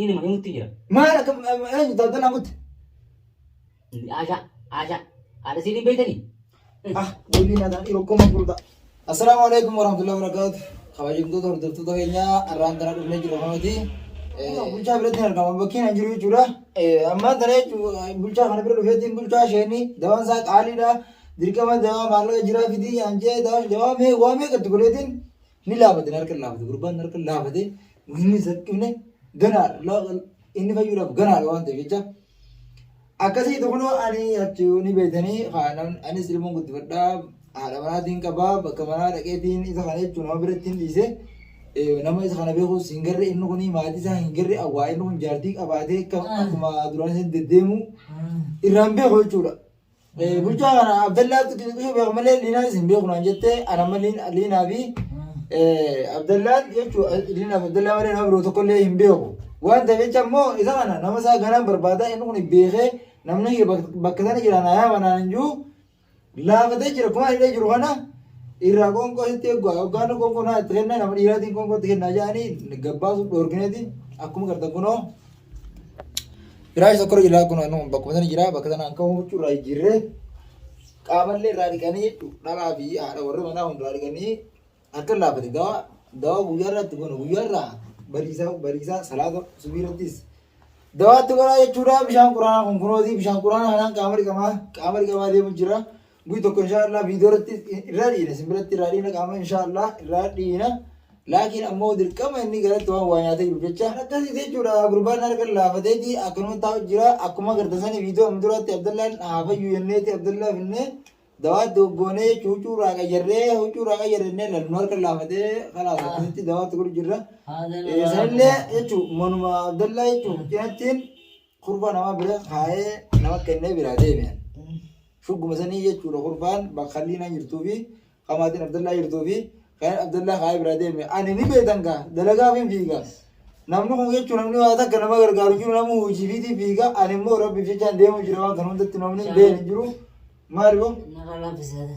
Inni mana mutti jira. Maal akka eenyu daldalaa mutti? Aashaa, aashaa, haadha siidhiin beektanii? Ah, deebii naa ta'a yeroo koma gurda. Assalaamu alaikum warahmatullahi wabarakatuh. Kabajamtoota hordoftoota keenyaa har'aan tana dhufnee jirra kanati. Bulchaa biratti hin argama bakkeen hin jiru jechuudha. Ammaan tana jechuun bulchaa kana bira dhufeetiin bulchaa isheenii dawaan isaa qaaliidha. Dirqama dawaa maallaqa jiraa fidii yaan jee dawaa mee waa meeqa itti godheetiin Ni laafate na harka laafate gurbaan na harka laafate inni zaqqifne ganaa inni fayyuudhaaf ganaadha waan ta'eef jecha akkasii kunoo ani achuu ni beekanii haalaan anis ilmoon guddifadhaa haadha manaatiin qabaa bakka manaa dhaqeetiin isa kana jechuun nama biratti hin dhiise nama isa kana beekuus hin garre inni kun maatii isaa hin garre awwaa inni kun jaartii qabaatee akkuma duraan isin deddeemu irraan beeku jechuudha. Bulchaa kana Abdallaa akka itti xiqqishu beeku malee Liinaanis hin beeku naan jettee ana amma Liinaa fi Abdallaan jechuudha Liinaa fi Abdallaa malee nama biroo tokkollee hin beeku. Waan ta'eef jecha immoo isa kana nama isaa ganaan barbaada inni kun beekee namni kiyya bakka sana jira naa yaama naan hin jiru laafatee jira kumaa hidhee jiru kana irraa qoonqoo sitti eeguu hoggaanni qoonqoo naa itti kennaa nama dhiiraatiin qoonqoo itti kennaa jedhanii gabbaasuuf dhoorgineeti akkuma gartan kunoo. Firaasha tokko irra jira kun anuu bakkuma sana jira bakka sanaan ka'uu huccuu irraa jijjiirree qaamallee irraa dhiqanii dhalaa fi haadha warra manaa hunduraa dhiqanii akka laafate gawa gawa guyyaa irratti kun guyyaa irraa bariisaa bariisaa salaata subii irrattis dawaatti godhaa jechuudha bishaan quraanaa kun kunooti bishaan quraanaa kanaan qaama dhiqamaa qaama dhiqamaa deemu jira. Guyya tokko inshaa Allah viidiyoo irratti irraa dhiina isin biratti irraa dhiina qaama inshaa Allah irraa dhiina. Laakiin ammoo dirqama inni garatti waan waa nyaatee jiru jecha. Akkasii jechuudha gurbaan harka laafateeti akkanuma taa'u jira akkuma agartan sani viidiyoo amma duraatti Abdallaan haafayyu jenneeti Abdallaa finne dawaa doggoonee jechuun huccuu irraa qayyarree huccuu irraa qayyarree inni lalu nu harka laafatee kalaas akkasitti dawaatti godhu jirra. Sanillee jechuun manuma Abdallaa jechuun cinattiin Kurfaa namaa bira kaa'ee nama kennee biraa deeme. Shugguma sanii jechuudha kurfaan bakka Liinaa jirtuu fi Qamaatiin Abdallaa jirtuu fi kan Abdallaa kaa'ee biraa deeme. Ani ni beekan gaa dalagaaf hin fiiga. Namni kun jechuun namni waa takka nama gargaaru jiru nama hojii fiitii fiiga. Ani immoo rabbiif jechaan deemu jira waan kan hundatti namni beekan hin jiru. Maal boo? Nara laafisee.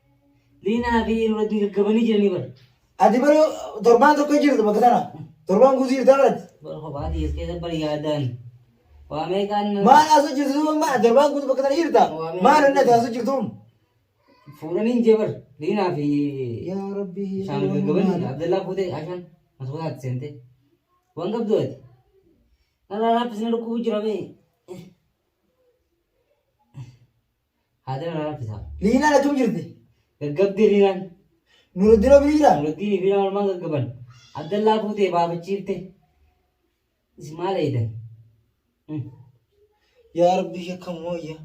Liinaa fi Eeruu Rabbii gaggabanii jiranii bar. Ati bari torbaan tokko jirtu bakka sana. Torbaan guutuu jirtaa barati. Bar kophaa kiyyaas keessa bar yaadaan. Waa meeqaan nama Maal haasoo jirtu duuba maal torbaan guutuu bakka sana jirta. Maal inni ati haasoo jirtuun. fuudhanii hin jee bar. Liinaa fi Yaa Rabbi. Isaan gaggabanii Abdallaa fuutee Ashaan masootaatti seentee. Waan qabdu ati. Narraa laaffisni dhukkubuu jira bee. Haadara na rakkisa. Liinaan achum jirti. Gaggabdee Liinaan. Nuruddin hoo biri jira? Nuruddin Liinaan walumaan gaggaban. Abdallaa fuutee baafachiifte. Isin maal eeydan? Yaa Rabbi shakka mooyya.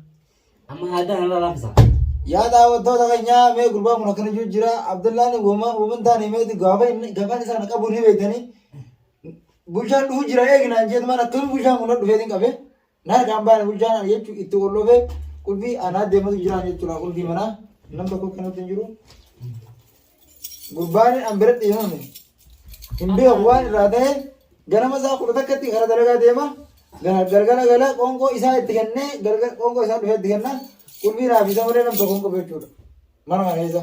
Amma haadara na rakkisa. Yaa daawwattoota keenyaa mee gurbaan kun akkana jiru jira. Abdallaan wama wama hin taane meeti gaafa inni gafaan isaan qabu ni beektanii. Bulchaan dhufu jira eegnaan jeetu maal akkami bulchaan kun dhufeetiin qabee. Naarka hambaan bulchaan ani jechuun itti hollofee qulfii anaa deematu jira ani jechuudha qulfii manaa nam tokko kennuutti hin jiru. Gurbaan an biratti hin himne. Hin beeku waan irraa ta'e ganama isaa kudha takkatti gara dalagaa deema. Gara- Galgala gala qoonqoo isaa itti kennee galgala qoonqoo isaa dhufee itti kenna. Qulfii naaf isa malee nam tokko hin qabu jechuudha. Mana kana keessa.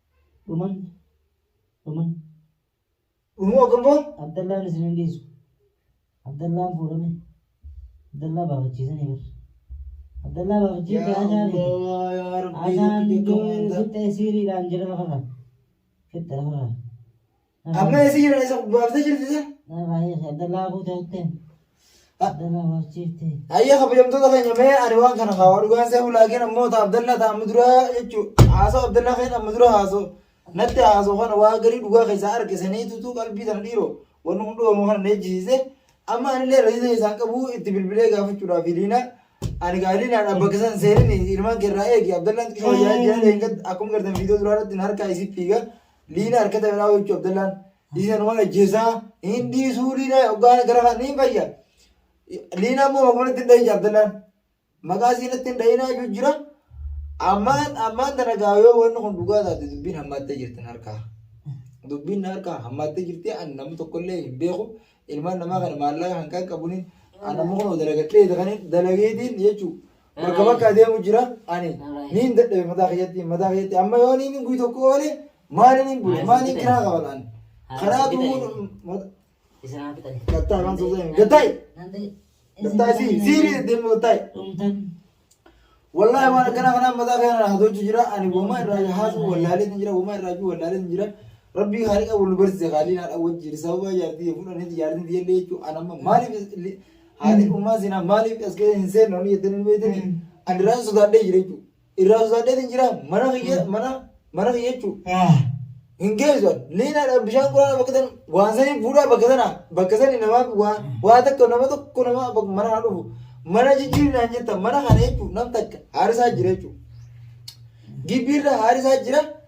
dhuman dhuman dhumuu ogummoo abdallaan isin hin dhiisu abdallaan fuudhame abdallaa baafachiisanii bar abdallaa baafachiisee yaa aashaa miti Allah yaa Rabbii aashaan lukkite koo du'ee maandar fixxee siiriidhaan jira lafarra fixxe lafarra Amma eessa jira isa baaftee jirti isa? Dalaa guutuutti. Dalaa barsiifti. Ayya kabajamtoota keenya mee ani waan kana haa dhugaan seefu laakiin ammoo ta Abdallaa ta amma duraa jechuun haasoo Abdallaa keenya amma dura haasoo natti haasoo kana waa garii dhugaa keessaa arge saniitutu qalbii sana dhiiroo wanni hundoomu kana na ejjisiise amma anillee rasiisa isaan qabu itti bilbilee gaafachuudhaaf hiliina ani gaaliinaan abba keessan seenin ilmaan keerraa eegi Abdallaan xiqqoo yaa jaallee akkuma gartan viidiyoo duraa irratti na harkaa isii fiiga Liina harkata irraa hojjechuu Abdallaan dhiisan waan ajjeesaa hin dhiisuu liina hoggaan gara kan hin fayya. Liina ammoo maqaa natti hin dhahin Abdallaan maqaa isii natti hin dhahinaa jechuun jira. Ammaan ammaan tana gaa yoo wanni kun dhugaa taate dubbiin hammaattee jirti harkaa. Dubbiin harkaa hammaattee jirti ani namni tokkollee hin beeku ilmaan namaa kana maallaqa kan qaqqabuun ani ammoo kun dalagadhee kan dalageetiin jechuudha. bakka bakka adeemu jira ani niin dadhabe mataa keessatti mataa keessatti amma yoo niin guyyaa tokko oole maali niin bule maali niin kiraa qaba laan karaa duwwuu gattaa waan soosee gattaay gattaa sii siiri deemu gattaay wallahi waan akkana kanaa mataa keenya naa hojii jira ani wama irraa haasu wallaalee ni jira wama irraa juu wallaalee ni jira rabbii haaliqa wal barsiise haaliin haadha wajjin sababa jaartii fuudhanii jaartii jechuun anamma maaliif Haati kun maal sinaa maaliif as keessa hin seennu ani jettanii beektanii ani irraa sodaadhee jira jechuudha. Irraa sodaadhee hin jira mana kiyya mana mana kiyya jechuudha. Hin geessu liinaadhaan bishaan quraana bakka sana waan sanii fuudhaa bakka sana bakka sani namaa waa waa takka nama tokko nama bakka mana kana dhufu mana jijjiirnaan jetta mana kana jechuudha nam takka haarisaa jira jechuudha. Gibbiirra haarisaa jira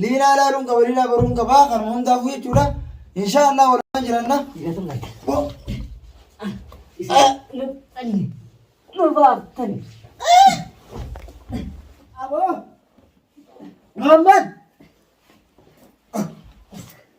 Liinaa laaluun qaba liinaa baruun qaba kanuma hundaafuu jechuudha. Inshaa Allah walumaan jiranna. Muhammad.